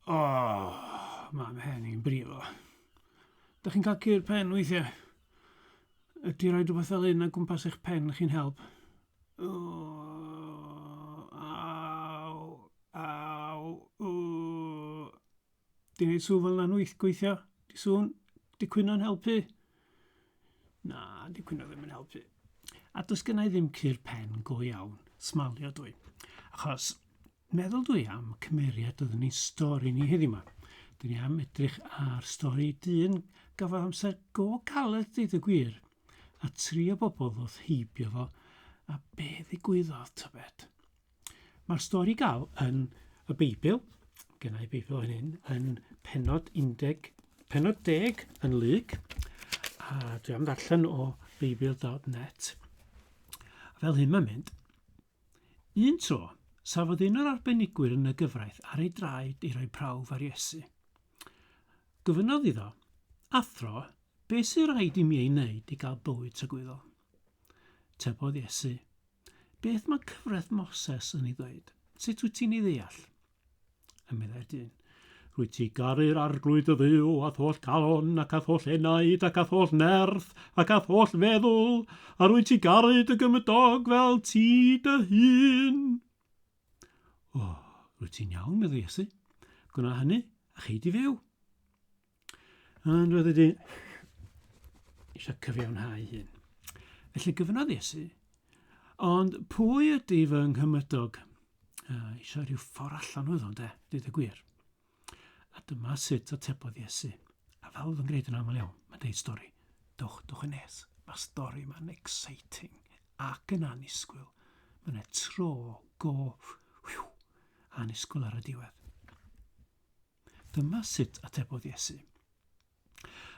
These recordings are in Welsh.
O, mae mhen i'n brifo. Dych chi'n cael cur pen weithiau? Ydy rhoi rhywbeth fel un o gwmpas eich pen chi'n help? O, aw, aw, o. Di wneud sŵn fel yna'n wyth gweithio? Di sŵn? Di cwyno'n helpu? Na, di cwyno ddim yn helpu. A does gennau ddim cur pen go iawn. Smalio dwi. Achos Meddwl dw i am cymeriad oedd yn ein stori ni heddiw 'ma. Dyn ni am edrych ar stori dyn gafodd amser go galed deud y gwir, a tri o bobl ddoth heibio fo, a be ddigwyddodd, tybed? Mae'r stori gael yn y Beibl, gennau Beibl fan hyn, yn penod 10, penod 10 yn Luc, a dwi am ddarllen o beibl.net. Fel hyn mae'n mynd. Un tro, safodd un o'r arbenigwyr yn y gyfraith ar ei draed i roi prawf ar Iesu. Gofynnodd iddo, Athro, beth sy'n rhaid i mi ei wneud i gael bywyd tragwyddol? Tebodd Iesu, Beth mae cyfraith Moses yn ei ddweud? Sut wyt ti'n ei ddeall? A meddai dyn, Rwyt ti garu'r arglwydd y dduw, a tholl calon, ac a tholl enaid, ac a tholl nerth, ac a tholl feddwl, a rwyt ti garu dy gymydog fel ti dy hun. O, rwyt ti'n iawn, meddai Iesu. Gwna hynny, a chei di fyw. Ond roedd wedi eisiau cyfiawnhau hyn. Felly gyfynodd Iesu, ond pwy ydy fy nghymydog? Uh, eisiau rhyw ffordd allan oedd o'n de, dweud y gwir. A dyma sut atebodd Iesu. A fel oedd yn gwneud yn aml iawn, mae'n deud stori. Dwch, dwch yn nes. Mae stori yma'n exciting ac yn anusgwyl. Mae'n e tro go whew, anusgwyl ar y diwedd. Dyma sut atebodd Iesu.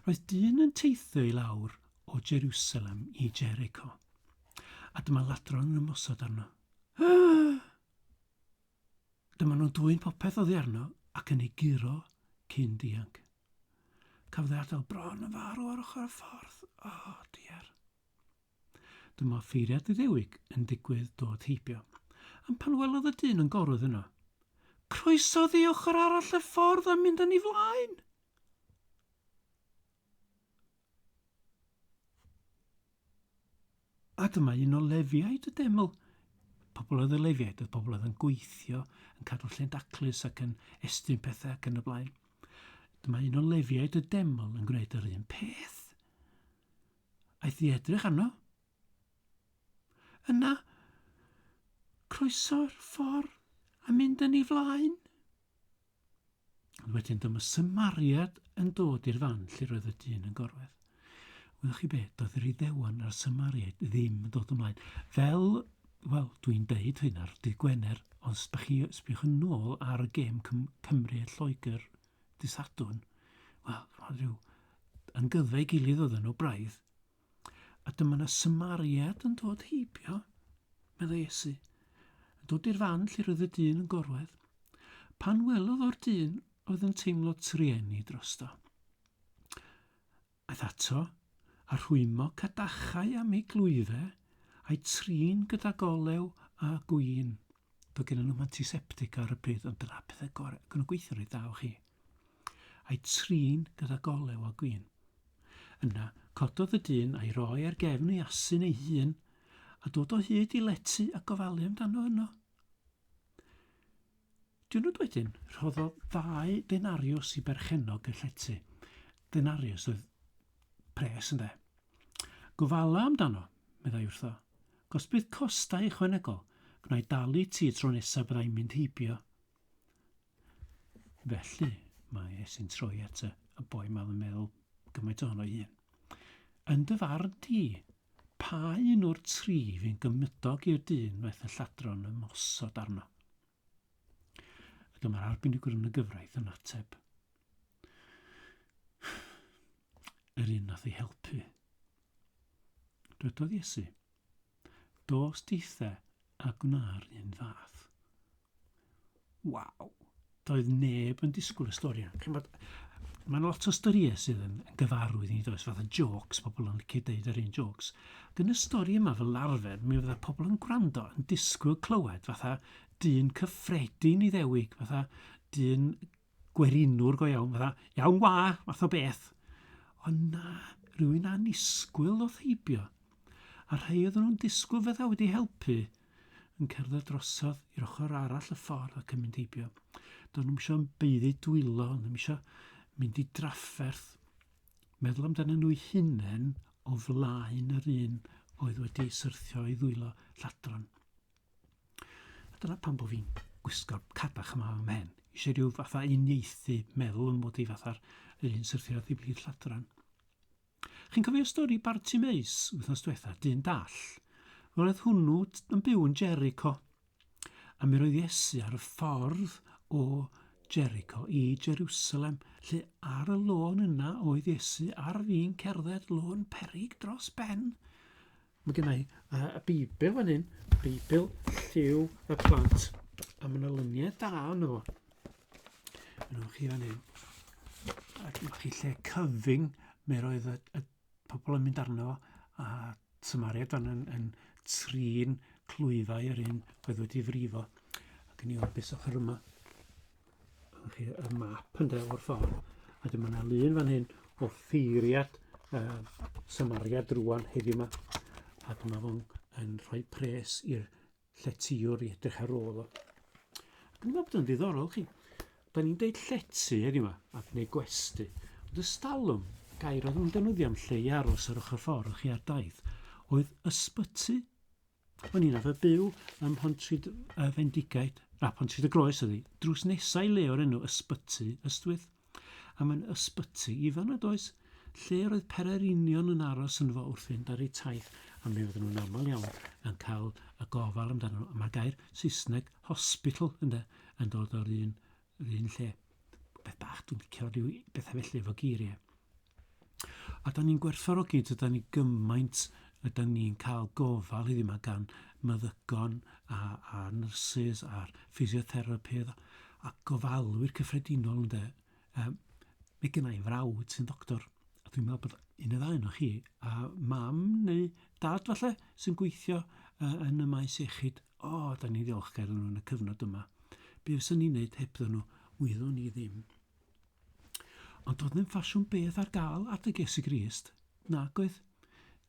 Roedd dyn yn teithio i lawr o Jerusalem i Jericho, a dyma ladron yn ymosod arno. Dyma nhw'n dwyn popeth oddi arno ac yn ei guro cyn dianc. Cafodd ei adael bron yn farw ar ochr y ffordd. O, oh, diar. Dyma ffeiriad Iddewig yn digwydd dod heibio, am pan welodd y dyn yn gorwedd yno. Croeso ddi ochr arall y ffordd a mynd â ni flaen! A dyma un o lefiaid y deml. Pobl oedd y lefiaid, oedd pobl oedd yn gweithio, yn cadw lle'n daclus ac yn estyn pethau ac yn y blaen. Dyma un o lefiaid y deml yn gwneud yr un peth. Aeth i edrych arno. Yna, croeso'r ffordd a mynd yn ei flaen. Ond wedyn dyma symariad yn dod i'r fan lle roedd y dyn yn gorwedd. Wyddoch chi beth, doedd yr iddewan a'r symariaid ddim yn dod ymlaen. Fel, wel, dwi'n deud hyn ar dydd Gwener, ond sbychwch yn ôl ar y gêm Cymru a Lloegr dy Sadwrn, wel, rhoi rhyw yn gyddau gilydd oedd nhw braidd. A dyma na symariad yn dod heibio, meddai Esu, yn dod i'r fan lle roedd y dyn yn gorwedd. Pan welodd o'r dyn oedd yn teimlo trueni drosto. Aeth ato, a rhwymo cadachau am ei glwyfe, a'i trin gydag olew a gwin. Doedd gennyn nhw'm antiseptic ar y pryd, ond dyna'r pethau gorau, ac o'n nhw'n gweithio'n reit dda efo chi. A'i trin gydag olew a gwin. Yna, cododd y dyn a'i roi ar gefn ei asyn ei hun, a dod o hyd i lety a gofalu amdano yno. Diwrnod wedyn, rhoddodd ddau denariws i berchennog y llety. Denariws oedd pres, ynde? Gofala amdano, meddai wrtho. Gos bydd costau ychwanegol, gwna'i dalu ti y tro nesaf byddai'n mynd heibio. Felly, mae Esyn troi at y boi ma'n meddwl gymaint ohono ei hun. Yn dy farn di, Pa un o'r tri fu'n gymydog i'r dyn wnaeth y lladron ymosod arno? A dyma'r arbenigwr yn y gyfraith yn ateb. Yr un nath ei helpu. Dwedodd Iesu, Dos dieithe A gwna'r un fath. Waw! Doedd neb yn disgwyl y stori yna. Chi'n bod, mae'n lot o storïau sydd yn gyfarwydd i ni does, fath o jokes, pobl yn licio deud yr un jokes. Ac yn y stori yma fel arfer, mi fydda pobl yn gwrando yn disgwyl clywed fatha dyn cyffredin i ddewig, fatha dyn gwerinwr go iawn, fatha, iawn wa, fath o beth. Ond na, rhywun anisgwyl o theibio. A rhai oedden nhw'n disgwyl fydda wedi helpu yn cerdded drosodd i'r ochr arall y ffordd ac yn mynd heibio. Do'n nhw'n eisiau beiddi dwylo, ond nhw'n eisiau mynd i drafferth, meddwl amdano nhw'i hunain o flaen yr un oedd wedi syrthio i ddwylo lladron. A dyna pan bod fi'n gwisgo'r cadach yma ym mhen. Eisiau rhyw fatha uniaethu meddwl yn mod i fatha'r un syrthio'r ddiflid lladran. Chi'n cofio stori Barti Meis wythnos diwetha, dyn dall? Wel, oedd hwnnw yn byw yn Jericho. A mi roedd Iesu ar y ffordd o Jericho i Jerusalem, lle ar y lôn yna oedd Iesu ar fin cerdded lôn perig dros ben. Mae gen i uh, y Beibl fan hyn, Beibl lliw y plant, a mae yna lyniau da yno fo. Yno chi fan hyn. A dyma chi lle cyfyng, mae roedd y, y pobl yn mynd arno fo, a Samaria dan yn, yn trin clwyfau yr un oedd wedi frifo. Ac yn i orbus ochr yma. chi, y map ynde o'r ffordd. A dyma yna lun fan hyn o ffeiriad uh, Samaria drwan heddiw yma. A dyma fo'n yn rhoi pres i'r lletiwr i edrych ar ôl o. Dwi'n meddwl bod yn ddiddorol chi. Da ni'n deud llety heddiw yma, a gwneud gwesti. Ond ystalwm, gair oedd yn defnyddio am lle i aros ar ochr ffordd chi ar daith, oedd ysbyty O'n i'n arfer byw ym Mhontryd y Fendigaid, na, Pontryd y Groes ydi, drws nesa i le o'r enw Ysbyty Ystwyth. A mae'n ysbyty ifan nad oes, lle yr oedd pererinion yn aros yn fo wrth fynd ar eu taith, a mi oedden nhw'n aml iawn yn cael y gofal amdano nhw. Mae'r gair Saesneg hospital ynde, yn dod o'r un Yr un lle. Beth bach, dwi'n licio rhyw bethau felly efo geiriau. A da ni'n gwerthfawrogi, dyda ni gymaint, a da ni'n cael gofal heddiw yma gan meddygon a, a nurses a'r physiotherapydd a gofalwyr cyffredinol ynde. Um, mae gen i frawd sy'n ddoctor, a dwi'n meddwl bod un o ddau o chi, a mam neu dad falle, sy'n gweithio uh, yn y maes iechyd. O, da ni'n ddiolchgar iddyn nhw yn y cyfnod yma. Be fyswn ni'n neud hebddyn nhw? Wyddwn ni ddim. Ond doedd ddim ffasiwn beth ar gael at y Iesu Grist. Nag oedd.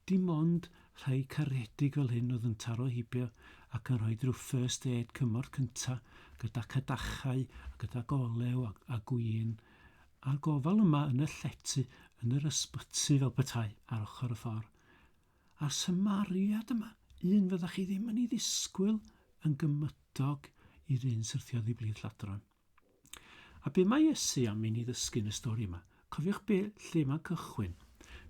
Dim ond rhai caredig fel hyn oedd yn taro heibio ac yn rhoi rhyw first aid cymorth cynta gyda cadachau a gyda golew a, a gwin a'r gofal yma yn y llety yn yr ysbyty fel petai ar ochr y ffordd. A'r cymariad yma, un fyddech chi ddim yn ei ddisgwyl yn gymydog i'r un syrthiodd oddi blith lladron. A be mae Iesu am i ni ddysgu yn y stori yma? Cofiwch be, lle mae'n cychwyn.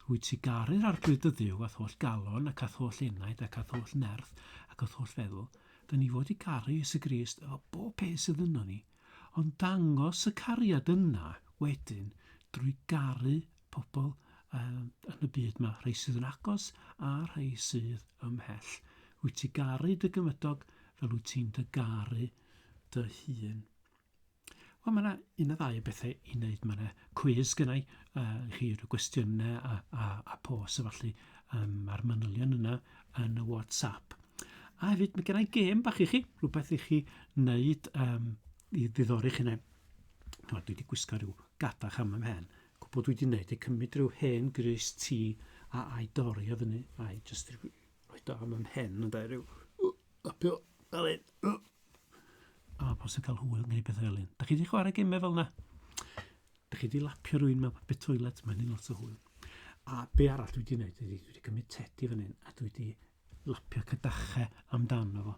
Rwyt ti garu'r Arglwydd dy Dduw a'th holl galon ac a'th holl enaid ac a'th holl nerth ac a'th holl feddwl. Da ni fod i garu Iesu Grist efo bob peth sydd yno ni, ond dangos y cariad yna wedyn drwy garu pobl um, yn y byd yma, rhai sydd yn agos a rhai sydd ymhell. Wyt ti garu dy gymydog fel wyt ti'n dy garu dy hun. Wel, mae yna un o ddau o bethau i wneud. Mae yna cwiz gynnau uh, i chi rhyw gwestiynau a, a, a pos a falle um, a'r manylion yna yn y WhatsApp. A hefyd, mae gennau gêm bach i chi, rhywbeth i chi wneud um, i ddiddori chi neu. Dwi wedi gwisgo rhyw gadach am ymhen. Gwbo dwi di neud e cymyd rhyw hen grys ti a ai dori o fyny ai just rhoi do am ymhen yn da rhyw lapio fel un a pos yn cael hwyl neu beth fel un da chi di chwarae gemau fel na da chi di lapio rhywun mewn bit toilet mae'n un lot o hwyl a be arall dwi di neud dwi di cymyd tedi fan hyn a dwi di lapio cadachau amdano fo.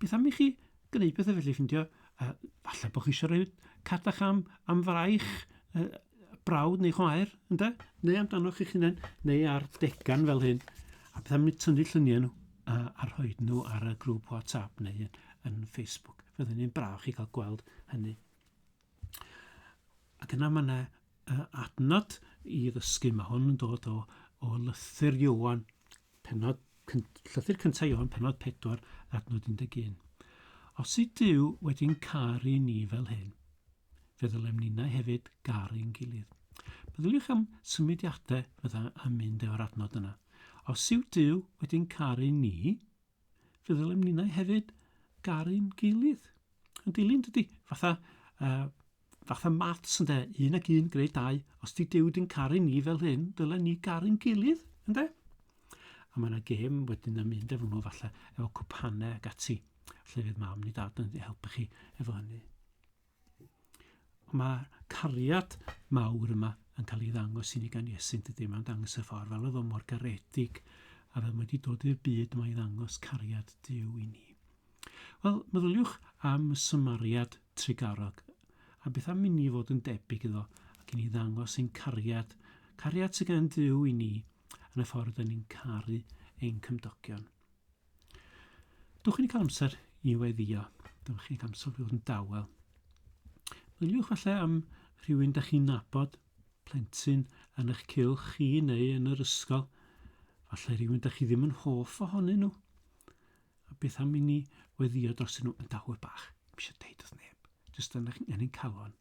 Beth am i chi gwneud pethau felly ffindio, a falle bod chi eisiau rhoi cadach am, am fraich, uh, brawd neu chwaer, ynddo? Neu amdano chi'ch hunain, neu ar degan fel hyn. A beth am i tynnu lluniau nhw a, a rhoi nhw ar y grŵp WhatsApp neu yn, yn Facebook. Fyddwn ni'n braf chi cael gweld hynny. Ac yna mae yna uh, adnod i ddysgu. Mae hwn yn dod o, o lythyr Iwan, penod, llythyr cyntaf Iwan, penod 4, adnod 11. Os y Dyw wedi'n caru ni fel hyn, fe ddylem ninnau hefyd garu'n gilydd. Meddyliwch am symudiadau fydda yn mynd efo'r adnod yna. Os yw Dyw wedi'n caru ni, fe ddylem ninnau hefyd garu'n gilydd. Yn dilyn dydy, fatha, uh, fatha maths ynde, un ac un greu dau, os di Dyw di'n caru ni fel hyn, dylen ni garu'n gilydd, ynde? A mae yna gêm wedyn yn mynd efo nhw falle, efo cwpanau ac ati. Lle fydd mam ni dad yn helpu chi efo hynny. Mae cariad mawr yma yn cael ei ddangos i ni gan Iesu, yn dydy? Mae'n dangos y ffordd fel oedd o mor garedig a fel mae wedi dod i'r byd mae i ddangos cariad Dyw i ni. Wel, meddyliwch am y Samariad trigarog a beth am i ni fod yn debyg iddo ac i ni ddangos ein cariad, cariad sydd gan Dyw i ni yn y ffordd yn ni'n caru ein cymdogion. Dwch chi'n cael amser i weddio. Dwch chi'n cael amser i fod yn dawel. Meddyliwch falle am rhywun da chi'n nabod, plentyn yn eich cylch chi neu yn yr ysgol. Falle rhywun da chi ddim yn hoff ohonyn nhw. A beth am i ni weddio dros nhw yn dawel bach? Mise deud wrth neb. Jyst yn eich, yn ein calon.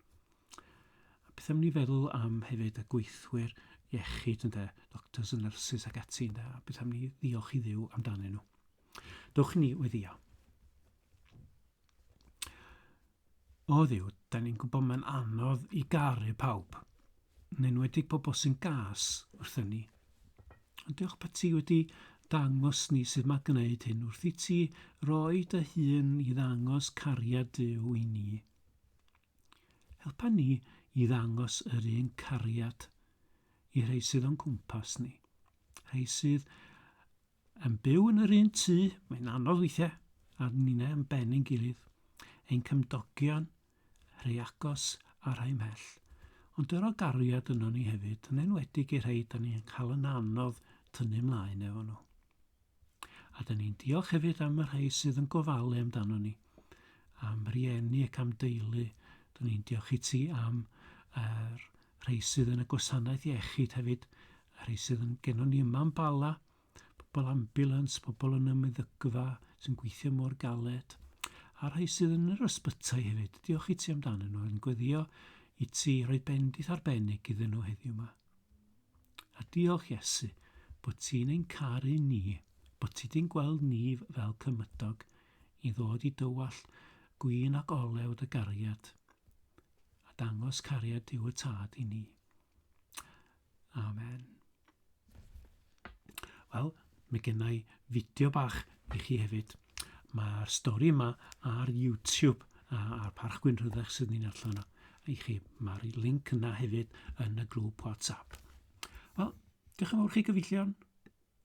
Beth am ni feddwl am hefyd y gweithwyr iechyd ynde, doctors and nurses ac ati ynde, a beth am ni ddiolch i ddiw amdanyn nhw. Dewch i ni weddio. O ddiw, da ni'n gwybod mae'n anodd i garu pawb, yn enwedig pobl sy'n gas wrthyn ni. Ond diolch bod ti wedi dangos ni sydd mae gwneud hyn wrth i ti roi dy hun i ddangos cariad Dyw i ni. Helpa ni i ddangos yr un cariad i rhai sydd o'n cwmpas ni. Rhai sydd yn byw yn yr un tŷ, mae'n anodd weithiau, a ni'n e'n ben yn gilydd. Ein cymdogion, rhai agos a rhai mhell. Ond dyro gariad yno ni hefyd, yn enwedig i rhai da ni'n cael yn anodd tynnu mlaen efo nhw. A dyn ni'n diolch hefyd am y rhai sydd yn gofalu amdano ni, am rieni ac am deulu. Dyn ni'n diolch i ti am yr rhai sydd yn y gwasanaeth iechyd hefyd, y rhai sydd yn gennon ni yma'n bala, pobl ambulans, pobl yn ymwneddygfa sy'n gweithio mor galed, a'r rhai sydd yn yr ysbytai hefyd. Diolch i ti amdanyn nhw, yn gweddio i ti roi bendith arbennig iddyn nhw heddiw yma. A diolch Iesu bod ti'n ein caru ni, bod ti di'n gweld ni fel cymydog i ddod i dywallt gwin ac olew dy gariad, a dangos cariad Duw y Tad i ni. Amen. Wel, Mae genna i fideo bach i chi hefyd. Mae'r stori yma ar YouTube a'r Parch Gwyn Rhyddech sydd ni'n allan yna i chi. Mae'r link yna hefyd yn y grŵp WhatsApp. Wel, diolch yn fawr chi gyfeillion.